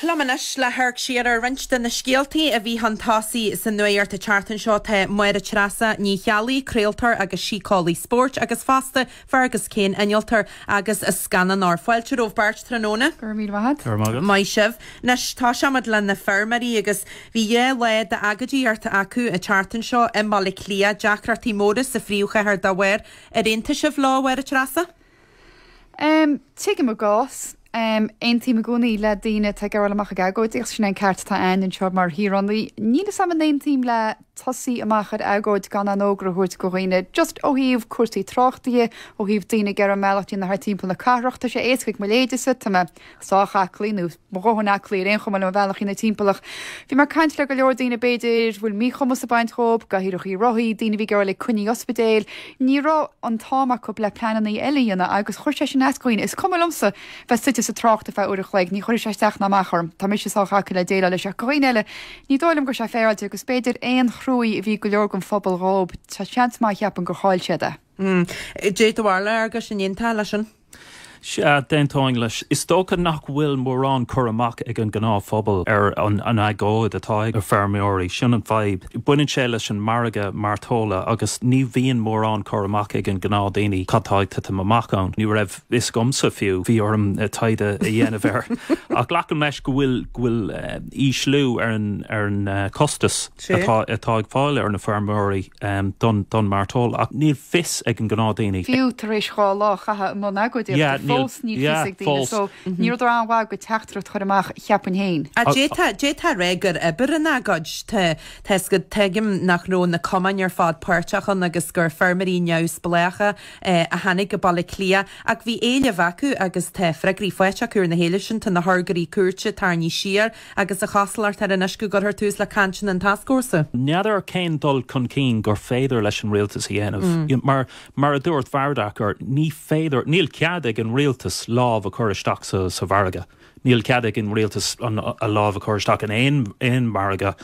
Liom anois le hamharc siar ar roinnt de na scéaltaí a bhí chun tosaigh sa nuacht i rith na seachtaine seo tá Máire Treasa Ní Cheallaigh, craoltóir agus síceolaí spóirt, agus fosta Fergus Kane, innealtóir agus scannánóir. Fáilte romhaibh beirt tráthnóna. Go raibh míle maith a't. Go raibh maith agat. Maith sibh. Anois, toiseoimid le na feirmeoirí agus bhí dhá lá d'agóidíochta acu an tseachtain seo i mBaile Átha Cliath, deacrachtaí móra sa phríomhchathair dá bharr. Ar aontaigh sibh leo, a Mháire Treasa? Em, tuigim a gcás. Em, aontaím i gcónaí le daoine atá ag gabháil amach ag agóid agus sin é an ceart atá a'ainn anseo mar shaoránaigh. Níl 'fhios a'm an aontaím le tosaí amach ar agóid gan aon fhógra a thabhairt go dhaoine, just ó thaobh cúrsaí tráchta dhe, ó thaobh daoine ag iarraidh a mbealach a dhéanamh thart timpeall na cathrach, tá sé éasca ag mo leithéidse, tá mé sách aclaí nó. mo dhóthain aclaí ar aon chuma le mo bhealach a dhéanamh timpeall ach. Bhí mé ag caint le go leor daoine, b'fhéidir, bhfuil míchumas ag baint dhóib, cathaoireachaí rothaí, daoine a bhí ag gabháil ag coinní ospidéil. Ní raibh an t-am acu le pleanannaí eile a dhéanamh agus chuir sé sin as dhaoine. Is cuma liomsa bheith suite sa trácht ar feadh uair a chloig, ní chuirfidh sé isteach ná amach orm. Tá mise sách aclaí le déileáil leis ach go dhaoine eile ní dóigh liom go raibh sé féaráilte agus b'fhéidir aon trua a bhí ag go leor den phobal dhóib, seans maith cheapfainn gur chaill siad é. Cad é do bharúil a Fhearghuis an aontófá leis sin? Sea, d'aontóinn leis. Is dócha nach bhfuil mórán cur amach ag an ngnáthphobal ar an agóid atá ag na feirmeoirí, sin an fhadhb. Baineann sé leis an margadh mairteola agus ní bhíonn mórán cur amach ag an gnáthdhaoine cad tá ag titim amach ann. Ní raibh fhios agamsa fiú, bhí orm taighde a dhéanamh air. Ach glacaim leis go bhfuil go bhfuil ísliú ar ar an costas. True. atá ag fáil ar na feirmeoirí don don mairteoil ach níl fios ag an gnáthdhaoine. fiú tar éis dhá lá a chaitheamh i mbun agóidíochta Yeah, níl, fós níl fios yeah, ag daoine fós. so Mhm. ní rud an-mhaith do teachtaireacht a chur amach cheapfainn féin. Ah, d'fhéadfá, d'fhéadfá a ráit gur oibir an agóid. Tá, tá is go, tuigim nach raibh na cumainn ar fad páirteach ann agus gur feirmeoirí neamhspleácha eh a tháinig go Baile Átha Cliath ach bhí éileamh acu agus tá freagraí faighte acu ar na héilimh sin, tá na hurghairí cúirte, tarraingthe siar, Agus a chosúlacht air anois go gcuirfear tús le cainteanna an tascfhórsa? N'fheadar cén dul chun cinn gur féidir leis an Rialtas a dhéanamh. Mar, mar a dúirt Varadkar, ní féidir, níl cead ag an Rialtas lámh a chur isteach sa, sa mhargadh. Níl cead ag an Rialtas an, a lámh a chur isteach in aon, aon mhargadh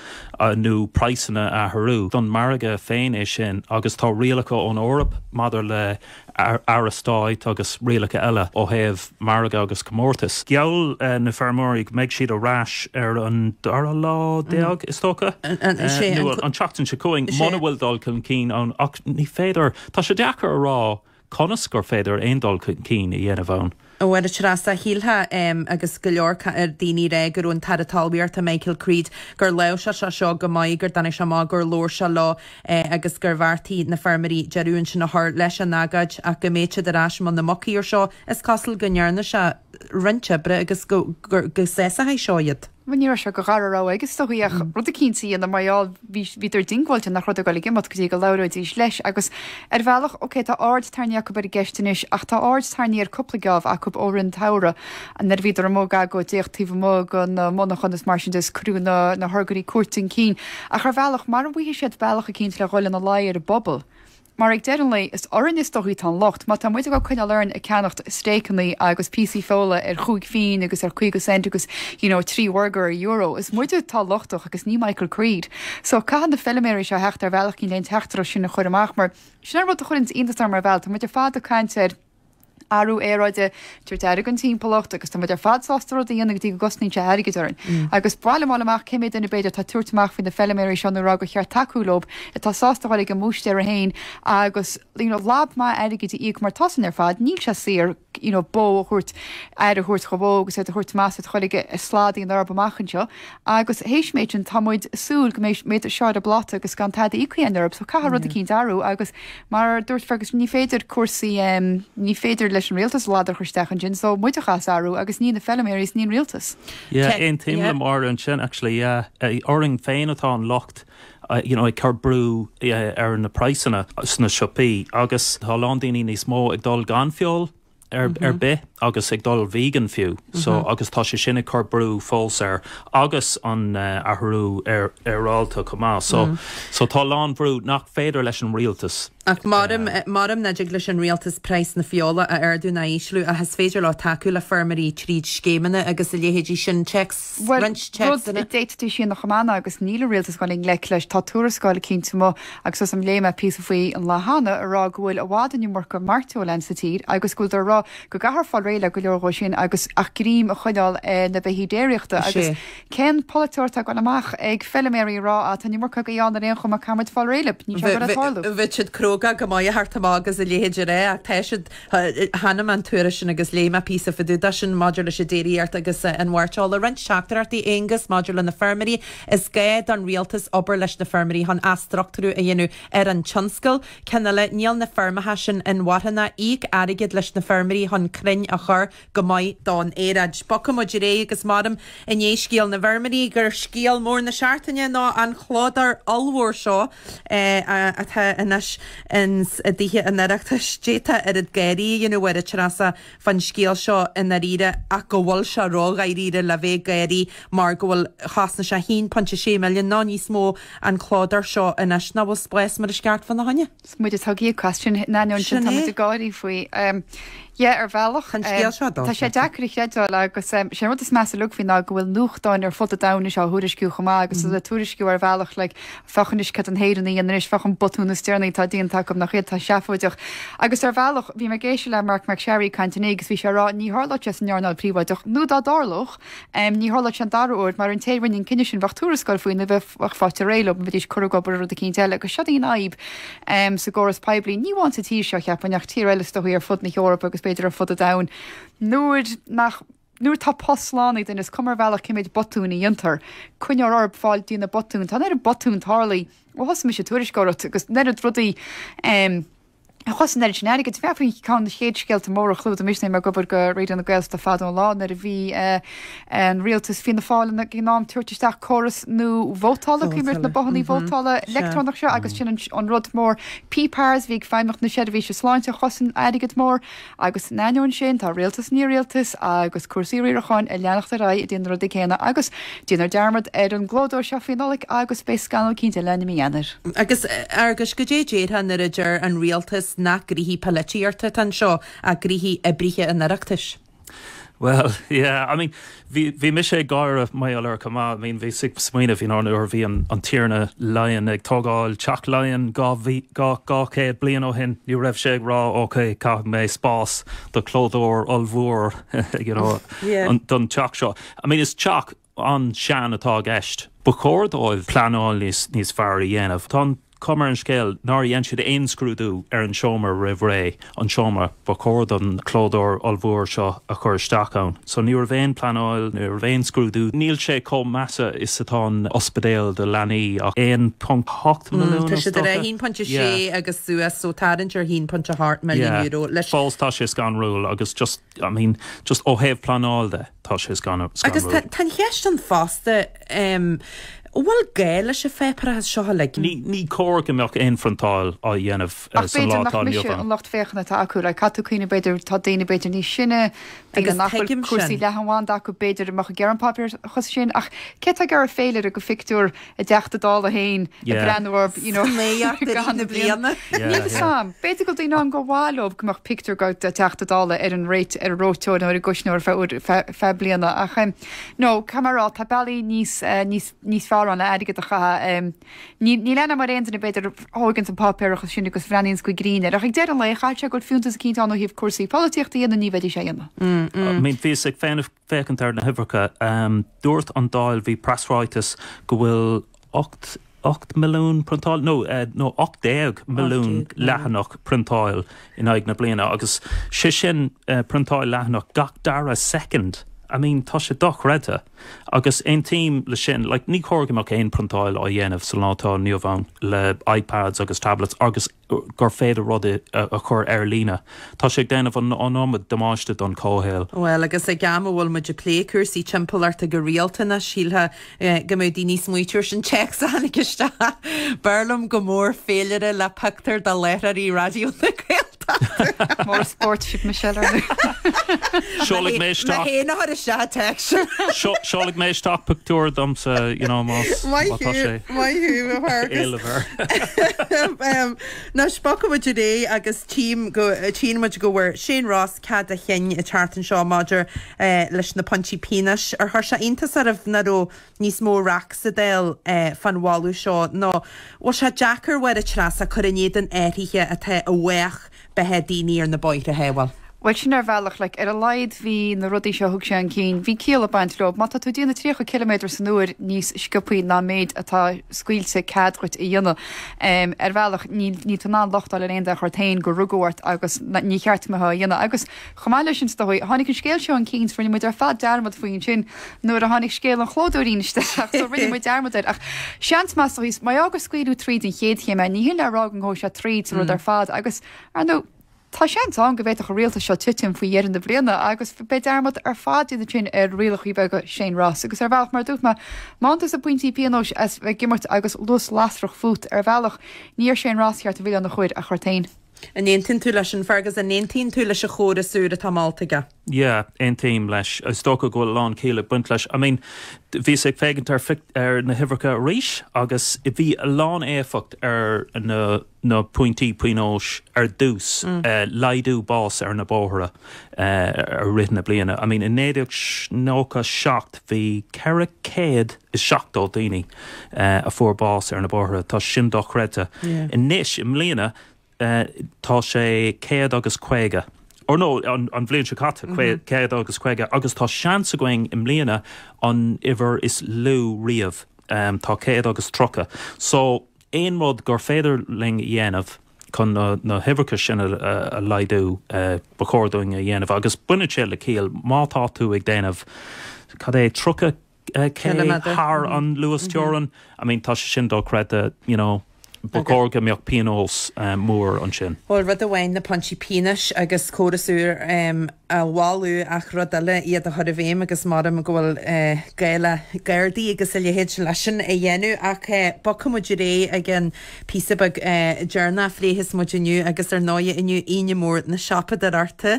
nó praghsanna a athrú. Don mhargadh féin é sin agus tá rialacha ón Eoraip maidir le Airgead Stáit agus rialacha eile ó thaobh margadh agus comórtas. Gheall na feirmeoirí go mbeidh siad ar ais ar an dara lá déag, is dócha, an tseachtain seo chugainn muna bhfuil dul chun cinn ann ach ní féidir, tá sé deacair a rá conas gur féidir aon dul chun cinn a dhéanamh ann. Ó, a Threasa, shílfeá, em, agus go leor daoine a rá go raibh an tAire Talmhaíochta, Michael Creed, gur láimhseáil sé seo go maith, go dtáinig sé amach, gur labhair sé leo, eh, agus gur bheartaigh na feirmeoirí deireadh ansin a chur leis an agóid ach go mbeidh siad ar ais i mbun na mucaí ar seo. Is cosúil go ndearna sé roinnt oibre agus go, gur, go sásaíodh seo iad. Bhuel ní raibh sé de rogha ar bith aige is dóigh ach rud eicínt a dhéanamh mar gheall, bhí, bhíodar diongbháilte nach raibh siad ag goil ag imeacht go dtí go labhróidís leis agus ar bhealach, ok tá aird tarraingthe acub ar an gceist anois ach tá aird tarraingthe cúpla geábh acub i rith an tsamhraidh nuair a bhíodar amuigh ag agóid, díreach taobh amuigh de na monarchan is mar siúd is cuireadh na, na hurghairí cúirte chun cinn ach ar bhealach, mara bhfaighidh siad bealach eicínt le dhul i bhfeidhm ar an bpobal. Mar ag deireadh an lae is orainn is dóichí tá an locht. Má tá muid ag coinneáil orainn ag ceannacht stéiceannaí agus píosaí feola ar chúig phínn agus ar chaoga cent agus you know trí bhurgar ar euro, is muide atá lochtach agus ní Michael Creed. So caithfidh na feiliméaraí seo a theacht ar bhealach eicínt leis an teachtaireacht sin a chur amach mar sin an rud a chuireanns iontas orm mar gheall, tá muid ar fad ag caint ar athrú aeráide, tabhairt aire don timpeallacht agus tá muid ar fad sásta rud a dhéanamh go dtí go gcosnaíonn sé airgead orainn. ba mhaith liom fháil amach cé mhéad duine, b'fhéidir, atá ag tabhairt amach faoi na feiliméaraí seo nó rá gur cheart tacú leo, atá sásta a dhul chuig a mbúistéara féin agus you know lab maith airgid a íoc mar tá's againn ar fad, níl sé saor you know bó a thabhairt, aire a thabhairt do bhó agus iad a thabhairt má tá siad le dhul chuig slaod den Eoraip amach anseo. Agus théis an méid sin tá muid ag súil go mbeidh iad seo ar an bpláta agus gan tada a íoc ar an oiread. So caithfidh rud eicínt athrú agus mar a dúirt Fergus ní féidir cúrsaí ehm ní féidir leis an rialtas ladar a chur isteach ansin so muide a chaithfeas athrú agus ní na feilméaraí is ní an rialtas. Yeah aontaím le Máire ansin actually yeah. Orainn féin atá an locht you know ag cur brú ar na praghsanna sna siopaí agus tá a lán daoine níos mó ag dul gan feoil, ar bith agus ag dul vegan fiú so agus tá sé sin ag cur brú fós air agus an athrú aeráide chomh maith so so tá a lán brú nach féidir leis an rialtas Ach abair nach dtig leis an rialtas praghas na feola a ardú ná a ísliú ach is féidir leo tacú le feirmeoirí tríd scéimeanna agus a leithéidí sin, TECs. Bhuel, rud a d'fhéadfaidís a dhéanamh cheana agus níl an Rialtas ag goil i ngleic leis. Tá tuarascáil eicínt amuigh agus tá's agam léigh mé píosa faoi an lá cheana a rá go bhfuil i bhfad an iomarca mairteola sa tír agus go bhfuil daoine ag rá go gcaithfear fáil réidh le go leor dhó sin agus ach greim a choinneáil ar na beithígh déiríochta agus cén polaiteoir atá ag goil amach ag feiliméaraí a rá ah tá an iomarca agaibh ann ar aon chuma caithfidh muid fáil réidh lib, níl sé ag goil tarlú. Bheadh siad cróga go maith a theacht amach agus a leithéid a rá ach tá siad Chonaic mé an tuairisc sin agus léigh mé píosa fada de sin maidir leis an déiríocht agus an mhairteoil. Roinnt teachtaireachtaí, Aonghus, maidir le na feirmeoirí, is gá don Rialtas obair leis na feirmeoirí chun athstructúrú a dhéanamh ar an tionscal. Ceann eile, níl na feirmeacha sin inmharthana, íoc airgead leis na feirmeoirí chun crainn a chur, Go maith do'n aeráid. Bogfaimid ar aghaidh agus measaim i ndiaidh scéal na bhfeirmeoirí gur scéal mór na seachtaine ná an clódóir ollmhór seo atá anois ins a' dTithe an Oireachtais. D'fhéadfá oiread gáirí a dhéanamh air, a Threasa, fán scéal seo i ndáiríre ach go bhfuil sé ró-dháiríre le bheith ag gáirí mar go bhfuil chosain sé 1.6 milliún nó níos mó an clódóir seo anois. Nach bhfuil spás mar is ceart fána choinne? 'S muid atá ag íoc as sin in ainneoin sin tá muid ag gáirí faoi. Yeah ar bhealach. Tá an scéal seo dulta. Tá sé deacair a chreidbheáil agus sé an rud is measa liom faoi ná go bhfuil nuachtáin ar fud an domhain anois á thuairisciú chomh maith agus iad ag tuairisciú ar bhealach like féach anois cad na hÉireannaigh a dhéanann anois, féach an botún is deireanaí atá déanta acu, nach iad atá seafóideach. Agus ar bhealach bhí mé ag éisteacht le Marc MacSharry ag caint inné agus bhí sé ag rá ní tharlódh sé san earnáil phríobháideach nó dá dtarlódh, Ní tharlódh sé an dara uair, mar an té a rinne an cinneadh sin, bheadh tuarascáil faoi nó bheadh faighte réidh leo, bheidís curtha ag obair ar rud eicínt eile, agus seo í an fhadhb sa gcóras poiblí, ní amháin sa tír seo, cheapfainn, ach tír eile is dóigh ar fud na hEorpa agus b'fhéidir ar fud an domhain, nuair nach, nuair atá post slán ag duine, is cuma ar bhealach cé méid botún a dhéantar, coinneofar orab fáil dtí na botúin, tá an oiread botún tarlaithe ó thosaigh mise ag tuairisceoireacht, agus an oiread rudaí. a chosain an oiread sin airgead. Bheadh faoi cheann de na chéad scéalta móra a chlúdaigh mise nuair a bhí mé ag obair do Raidió na Gaeltachta fadó an lá nuair a bhí an Rialtas Fianna Fáil ann ag an am tabhairt isteach córas nua vótála, cuimhin leat na bothannaí vótála leictreonach seo agus sin an rud mór. PPARS, bhí ag Feidhmeannacht na seirbhíse sláinte a chosain airgead mór. Agus in ainneoin sin, tá rialtas i ndiaidh rialtas, agus cúrsaí riaracháin ag leanacht ar aghaidh ag déanamh na rudaí céanna agus déanfar dearmad ar an gclódóir seo faoi Nollaig agus beidh scannal eicínt eile ann i mí Eanáir. Agus, a Fhearghuis, goidé déarfá nuair a deir an rialtas nach gnoithe polaitíochta atá anseo ach gnoithe oibrithe an Oireachtais? Bhuel, yeah, I mean, Bhí, bhí mise ag gáire mar gheall air chomh maith, I mean bhíos ag smaoineamh you know nuair a bhí an, an Tiarna Laighean ag tógáil Teach Laighean dhá mhí, dhá, dhá chéad bliain ó shin, ní raibh sé ag rá ok caithfidh mé spás do chlódóir ollmhór you know Yeah. an, don teach seo. I mean is teach an-sean atá i gceist. Ba chóir dóibh pleanáil níos, níos fearr a dhéanamh. Tá an. chuma ar an scéal nár dhein siad aon scrúdú ar an tseomra roimh ré, an seomra ba chóir don chlódóir ollmhór seo a chur isteach ann. So ní raibh aon pleanáil, ní raibh aon scrúdú. Níl sé chomh measa is atá an ospidéal do leanaí ach 1.8 milliún, Tá is siad ar dócha? 1.6 Yeah. agus suas, so tarraingt ar 1.8 milliún Yeah. euro leis. Fós tá sé scanrúil agus just. I mean, just ó thaobh pleanáil de, tá sé Agus scanrúil. tá an cheist ann fosta, em, an bhfuil gá leis an pháipéarachas seo uilig? Ní cóir go mbeadh aon phriontáil á dhéanamh Ach sa lá b'fhéidir atá nach inniu mise an ann. lucht féachana atá acu, like, caithfidh tú cuimhneamh b'fhéidir tá daoine b'fhéidir níos sine, daoine Agus nach bhfuil tuigim cúrsaí sin. leathanbhanda acu b'fhéidir a mbeadh ag iarraidh an páipéarachas sin ach cé tá ag iarraidh féilire de phictiúr, a dTeachta Dála féin ag breathnú orthu, you know, i gcaitheamh na bliana. Níl 'fhios a'm. B'fhéidir go bhfuil daoine ann gur mhaith leob go mbeadh pictiúr de Teachta Dála ar an réit, ar an reoiteoir nó ar an gcuisneoir fe, fe, feadh bliana ach em no, caithfidh mé a rá, tá bealaí níos, níos, níos fearr ann le airgead a chaitheamh. Em níl, níl 'fhios a'm an bhfuil aon duine b'fhéidir a thóigeanns an páipéarachas sin agus a bhreathnaíonns go grinn air ach ag deireadh an lae caithfidh sé go bhfuil fiúntas eicínt ann ó thaobh cúrsaí polaitíochta dhe nó ní bheidís a' dhéanamh. I mean bhíos ag féachaint. Féachaint ar na huimhreacha, dúirt an Dáil, bhí preasráiteas go bhfuil ocht, ocht milliún priontáil? No, no, ocht déag milliún leathanach priontáil in aghaidh na bliana agus sé sin priontáil leathanach gach dara soicind. I mean, tá sé dochreidte agus aontaím leis sin. Like, ní chóir go mbeadh aon priontáil á dhéanamh sa lá atá inniu ann le iPads agus tablets agus. gur féidir rudaí a chur ar líne. Tá sé ag déanamh an iomad damáiste don chomhshaol. Bhuel, agus ag am a bhfuil muid ag plé cúrsaí timpeallachta go rialta anois, shílfeá go mbeadh daoine níos smaointiúla. Ar an téacs a tháinig isteach. B'fhearr liom go mór féilire le pictiúir de láithreoirí Raidió na Gaeltachta. More sport, cheap mé sin. Seolfaidh mé isteach. Mé fhéin a chuir isteach an téacs sin. Seolfaidh mé isteach pictiúir domsa, you know, más tá sé. Maith thú, a Fhearghuis. Éileofar. Ahem. Ná spochfaimid as é agus tchíonn muid go bhfuair Shane Ross cead a chinn an tseachtain seo maidir leis na pointí pionóis. Ar chuir sé iontas oraibh nach raibh níos mó raic sa Dáil fán mholadh seo? Nó an bhfuil sé deacair, a Mháire Treasa, cur in éadan athruithe atá i bhfách beatha daoine ar na bóithre a shábháil. Bhuel, sin ar bhealach, like, ar a laghad bhí na rudaí seo a thug sé un cinn, bhí ciall ag baint leo. Má tá tú ag déanamh 30 ciliméadar san uair níos sciopthaí ná an méid atá scaoilte cead dhuit a dhéanamh, em, ar bhealach níl, níl tú in ann locht a fháil ar aon duine ach ort fhéin gur rugadh ort agus ní cheart a bheith dhá dhéanamh agus. Chomh maith le sin, is dóigh, tháinig an scéal seo un cinn 's rinne muid ar fad dearmad faoi ansin nuair a tháinig scéal an chlódóra isteach so rinne muid dearmad air ach seans maith so tuige mar gheall gur scaoileadh tríd an chéad chéim é, ní shin le rá go ngabhfaidh sé tríd sa rud ar fad agus, ar ndóigh, tá seans ann go bhféadfadh an Rialtas seo titim faoi dheireadh na bliana agus beidh dearmad ar fad déanta ansin ar rialachaí beaga Shane Ross agus ar bhealach, mar a dúirt mé, má fhaigheann tusa pointí pionóis as bheith ag imirt agus luas lasrach fút, ar bhealach, ní ar Shane Ross is ceart an milleán a chur ach ort féin. An aontaíonn tú leis sin, Fergus? An aontaíonn tú leis an chóras úr atá molta aige? Yeah, aontaím leis. Is dócha go bhfuil a lán ciall ag baint leis. I mean, bhíos ag féachaint ar ar na huimhreacha arís agus bhí a lán éifeacht ag na pointí pionóis ar dtús, laghdú bás ar na bóithre, i rith na bliana. I mean i 1997 bhí 470 daoine a fuair bás ar na bóithre, tá sin dochreidte. Anois i mbliana tá sé céad agus caoga, or no an bhliain seo caite céad agus caoga agus tá seans againn i mbliana an uimhir is lú riamh, tá céad agus tríocha. So aon rud gur féidir linn a dhéanamh, chun na huimhreacha sin a laghdú ba chóir dúinn a dhéanamh agus baineann sé le ciall má tá tú ag déanamh, cad é, 30 K thar an luasteorainn, I mean tá sé sin dochreidte you know ba chóir go mbeadh pionós mór ansin. Bhuel rud amháin na pointí pionóis agus córas úr a a mholadh ach rud eile iad a chur i bhféidhm agus measaim go bhfuil gá le Gardaí agus a leithéid leis sin a dhéanamh ach bogfaidh muid ar aghaidh ag an bpíosa beag deireanach a phléifeas muid inniu agus ar ndóigh inniu Aoine Mhór na Siopadóireachta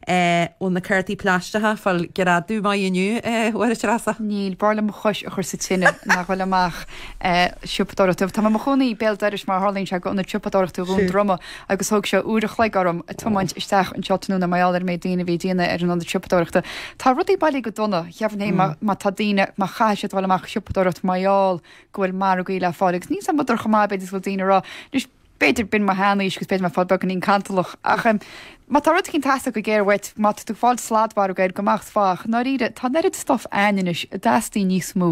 ó na cártaí pláisteacha fáil greadadh maith inniu a Mháire Treasa. Níl, b'fhearr liom mo chois a chur sa tine ná dul amach ag siopadóireacht. Tá mé i mo chónaí béal dorais mar a tharlaíonn sé le Ionad Siopadóireachta Dhún Droma. agus thóg sé uair a chloig orm tiomáint isteach anseo tráthnóna mar gheall ar an méid daoine a bhí ag déanamh ar an ionad siopadóireachta. Tá rudaí bailithe go dona, dheamhan é má tá daoine, má chaithfidh siad dul amach ag siopadóireacht mar gheall go bhfuil margaí le fáil agus níl a fhios agam an bhfuil siad chomh maith b'fhéidir is go bhfuil daoine a rá, anois b'fhéidir, b'in mo shean-aois agus b'fhéidir mé ag fáil beagáinín cantalach ach má tá rud éicint ag teastáil go géar uait, má tá tú ag fáil sladmhargadh air go maith sách i ndáiríre tá an oiread stuif ann anois an dteastaíonn níos mó.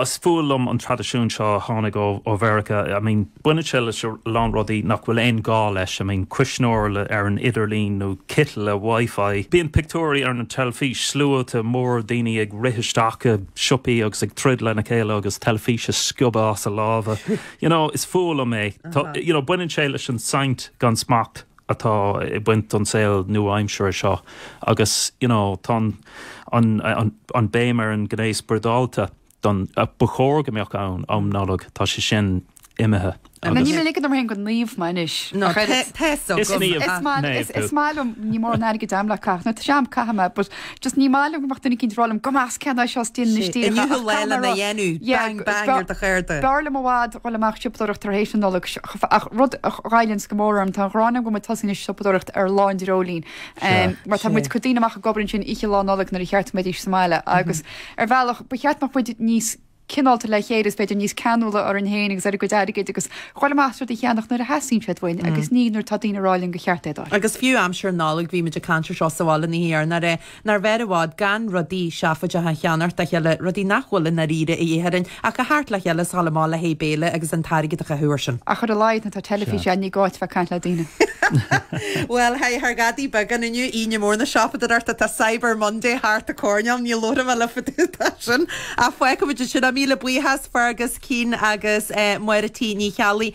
Is fuath liom an traidisiún seo a tháinig ó Mheiriceá. I mean, baineann sé leis a lán rudaí nach bhfuil aon ghá leis. I mean, cuisneoir ar an idirlíon nó citeal le wifi. Bíonn pictiúirí ar an teilifís, sluaite móra daoine ag rith isteach i siopaí agus ag troid lena chéile agus teilifís a sciobadh as a lámha. You know, is fuath liom é. Tá, you know, baineann sé leis an saint gan smacht. atá ag baint leis an saol nua-aimseartha seo agus you know tá an an an an béim ar an gné spioradálta don a ba chóir go mbeadh ann um Nollaig tá sé sin imithe Níl mé ag ligean orm féin gur naomh mé anois Ná credit. te te is so is maith is maith liom ní mór an airgid am le caitheamh na tram caithfidh mé but Just ní maith liom go mbeadh duine éicint ag rá liom go mba cheart dom seo is déanaim isteach ach Inniu cad leil ina dhéanamh. Bang bang ar do cheirde. B'fhearr liom i bhfad dhul amach ag siopadóireacht tar héis na Nollag ach ach rud a ghoilleanns go mór orm tá an ghráin agam go bhfuil muid tosaithe anois ag siopadóireacht ar lá an dreoilín mar tá muid ag cur daoine amach ag obair ansin oíche lá Nollag nuair ba cheart go mbeidís sa mbaile agus ar bhealach ba cheart go mbeadh muid níos cineálta le chéile is b'fhéidir níos ceanúla orainn féin agus ar ár gcuid airgid agus chomh maith maith rudaí a cheannacht nuair a theastaíonn siad uainn agus ní nuair atá daoine ag rá linn gur cheart é do Agus fiú aimsir na Nollag bhí muid ag caint ar seo sa bhaile an oíche roimh aréir. Nár bhfearr i bhfad gan rudaí seafóideacha a cheannacht dá chéile, rudaí nach bhfuil i ndáiríre a dhíth orainn ach a theacht le chéile is dul amach le haghaidh béile agus an t-airgead a chaitheamh ar sin. Ach ar a laghad nuair atá teilifís ann ní gá duit a bheith ag caint le daoine. Bhuel, hey, thar Dhadaí Beagán inniu, Aoine Mhór na Siopadóireachta, tá Cyber Monday thart an coirnéal, níl labhairt agam le fadú, tá sin. Ach feicfimid é sin. Míle buíochas Fergus Keane agus Máire T. Ní Cheallaigh.